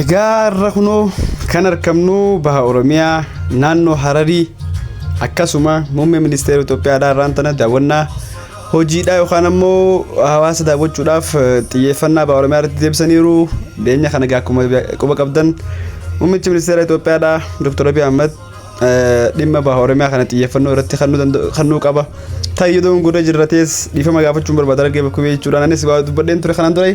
Egaa irra kunoo kan argamnu baha Oromiyaa naannoo Hararii akkasuma muummee ministeera Itoophiyaadhaa irraan tana daawwannaa hojiidhaa yookaan ammoo hawaasa daawwachuudhaaf xiyyeeffannaa baha Oromiyaa irratti deebisaniiru. Dhiyeenya kana egaa akkuma quba qabdan muummichi ministeera Itoophiyaadhaa Dr. Abiy Ahmed dhimma baha Oromiyaa kana xiyyeeffannoo irratti kennuu qaba. Taayyodoon godha jirratees dhiifama gaafachuun barbaada argee bakkuu jechuudhaan anis waa dubbadheen ture kanaan dura.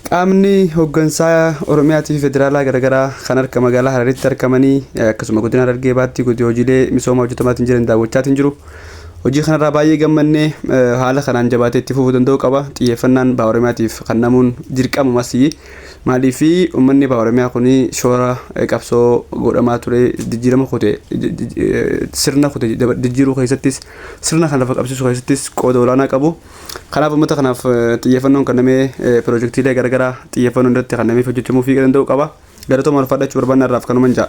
Qaamni hoggansaa Oromiyaatii fi Federaalaa garagaraa kan harka magaalaa Hararitti arkamanii akkasuma godina Harargee Bahaatti godi hojiilee misoomaa hojjetamaatiin jiran daawwachaatiin jiru. Hojii kanarraa baay'ee gammannee haala kanaan jabaatee itti fufuu danda'uu qaba. Xiyyeeffannaan Baha Oromiyaatiif kannamuun dirqamumas maaliif uummanni Baha Oromiyaa kun shoora qabsoo godhamaa ture jijjiirama kute sirna kute jijjiiruu keessattis sirna kana lafa qabsiisuu keessattis qooda olaanaa qabu. Kanaaf uummata kanaaf xiyyeeffannoon kennamee piroojektiilee garagaraa xiyyeeffannoon irratti kennameef hojjechamuufii danda'uu qaba. Galatoomaa ulfaadha jechuu barbaanna har'aaf kanuman ja'a.